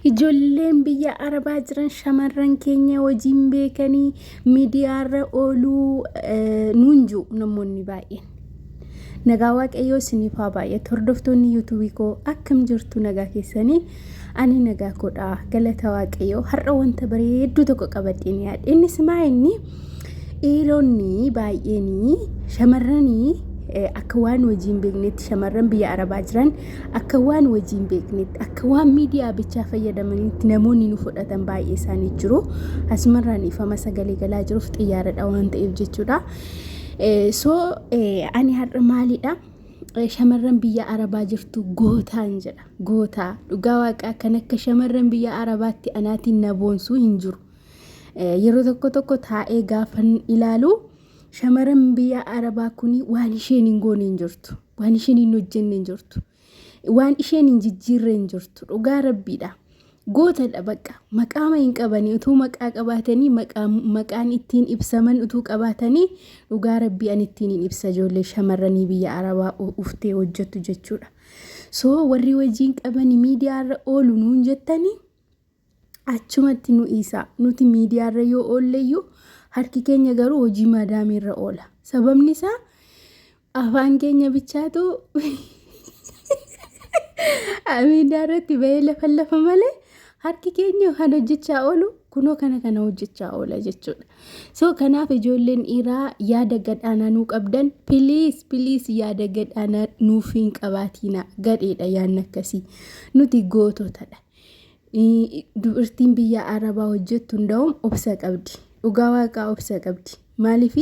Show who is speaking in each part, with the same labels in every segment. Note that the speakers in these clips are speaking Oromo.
Speaker 1: Ijoolleen biyya arabaa jiran shamarran keenya hojiin beekanii miidiyaarra ooluu eh, nuun jiru namoonni baay'een. Nagaa waaqayyoo isiniif haa baay'atu hordoftoonni yuutuubii koo akkam jirtu nagaa keessanii ani nagaa koodha galata waaqayyoo har'a wanta bareedduu tokko qabadheen yaadhe innis maa inni Dhiironni baay'een shamarran akka waan hojii hin beeknetti shamarran biyya arabaa jiran akka waan hojii hin beeknetti akka waan miidiyaa bichaa fayyadamanitti namoonni nu fudhatan baay'ee isaanii jiru. Asumarraan ifama sagalee galaa jiruuf xiyyaaradha waan ta'eef jechuudha. So ani har'a maalidha? Shamarran biyya arabaa jirtu gootaan jedha. Gootaa dhugaa waaqaa kan akka shamarran biyya arabaatti anaatiin na boonsuu hin jiru. Yeroo tokko tokko taa'ee gaafan ilaalu shamaran biyya arabaa kun waan isheen hin goone hin jirtu. Waan isheen hin hojjenne hin jirtu. Waan isheen hin jijjiirre hin jirtu. Dhugaa rabbiidha. Gootadha bakka maqaama hin qabanii utuu maqaa qabaatanii maqaan ittiin ibsaman utuu qabaatanii dhugaa rabbii an ittiin hin ibsa ijoollee shamarranii biyya arabaa uftee hojjettu jechuudha. So warri wajjin qabanii miidiyaarra oolu nuun jettanii Achumatti nu dhiisaa. Nuti miidiyaarra yoo oolleyyuu harki keenya garuu hojii maadaamiirra oola. Sababni isaa afaan keenya bichaatu miidiyaarratti bahee lafa lafa malee harki keenya kan hojjechaa oolu kunoo kana kana hojjechaa oola jechuudha. So kanaaf ijoolleen dhiiraa yaada gadhaanaa nuu qabdan piliis piliis yaada gadhaanaa nuuf hin qabaatiina gadheedha yaadni akkasii nuti goototadha. Dubartiin biyya Arabaa hojjettu hunda'uun obsa qabdi. Dhugaa waaqaa obsa qabdi. Maaliif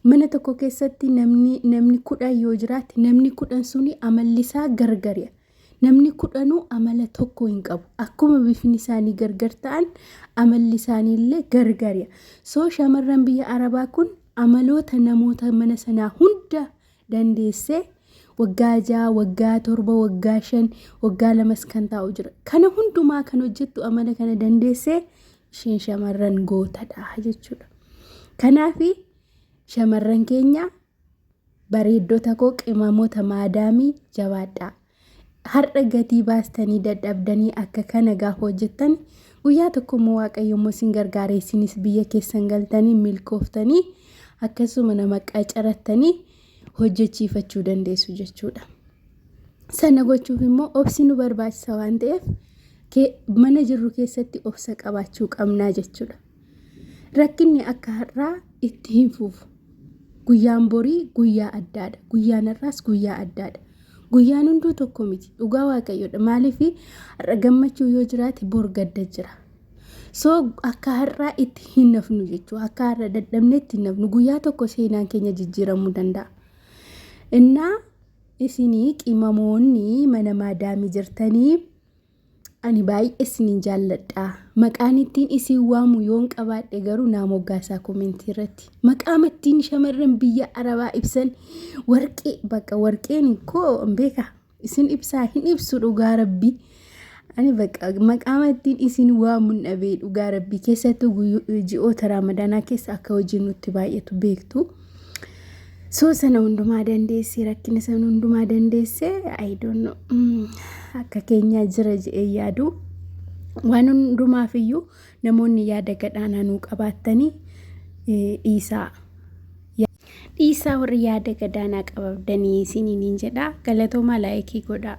Speaker 1: mana tokko keessatti namni namni kudhan yoo jiraate namni kudhan suni amalli isaa gargari'a. Namni kudhanuu amala tokko hin qabu. Akkuma bifni isaanii gargar ta'an amalli isaanii illee gargari'a. Soo shamarran biyya Arabaa kun amaloota namoota mana sanaa hunda dandeessee waggaa ja'a, waggaa torba, waggaa shan, waggaa lamas kan taa'u jira. Kana hundumaa kan hojjettu amala kana dandeessee isheen shamarran gootadha jechuudha. Kanaaf shamarran keenya bareeddota koo qimamota maadaamii jabaadhaa. Har'a gatii baastanii dadhabdanii akka kana gaafa hojjettan guyyaa tokko immoo waaqayyo immoo isin gargaara isinis biyya keessan galtanii milkooftanii akkasuma nama qacarattanii hojjechiifachuu dandeessu jechuudha. Sana gochuuf immoo obsi nu barbaachisa waan ta'eef mana jirru keessatti obsa qabaachuu qabnaa jechuudha. Rakkinni akka har'aa itti hin fufu. Guyyaan borii guyyaa addaadha. Guyyaan har'aas guyyaa addaadha. Guyyaan hunduu tokko miti. Dhugaa waaqayyoodha. Maaliif har'a gammachuu yoo jiraate bor gadda jira. So akka har'aa itti hin nafnu jechuudha. Akka har'a dadhabne itti hin nafnu. Guyyaa tokko seenaan keenya jijjiiramuu danda'a. Innaa isinii qimamoonni mana maadaamii jirtanii Ani baay'ee isiniin jaalladha. Maqaan ittiin isin waamu yoon qabaadhe garuu naa moggaasaa komentii irratti. Maqaama ittiin shamarran biyya Arabaa ibsan warqee bakka warqeen koo hin beeka. Isin ibsaa hin ibsu dhugaa rabbii. Ani bakka maqaama ittiin isin waamu hin dhabee dhugaa rabbii keessattuu guyyo- ji'oota raamadaanaa keessa akka hojii nutti baay'atu beektu. So sana hundumaa dandeessee rakkina sana hundumaa dandeessee I don't know mm, akka keenyaa jira jedhee yaadu waan hundumaaf iyyuu namoonni yaada gadhaanaa nuu qabaattanii eh, dhiisaa. Ya- Dhiisaa warri yaada gadaanaa qababdanii isiniin hin jedhaa galatoomaa laayikii godhaa.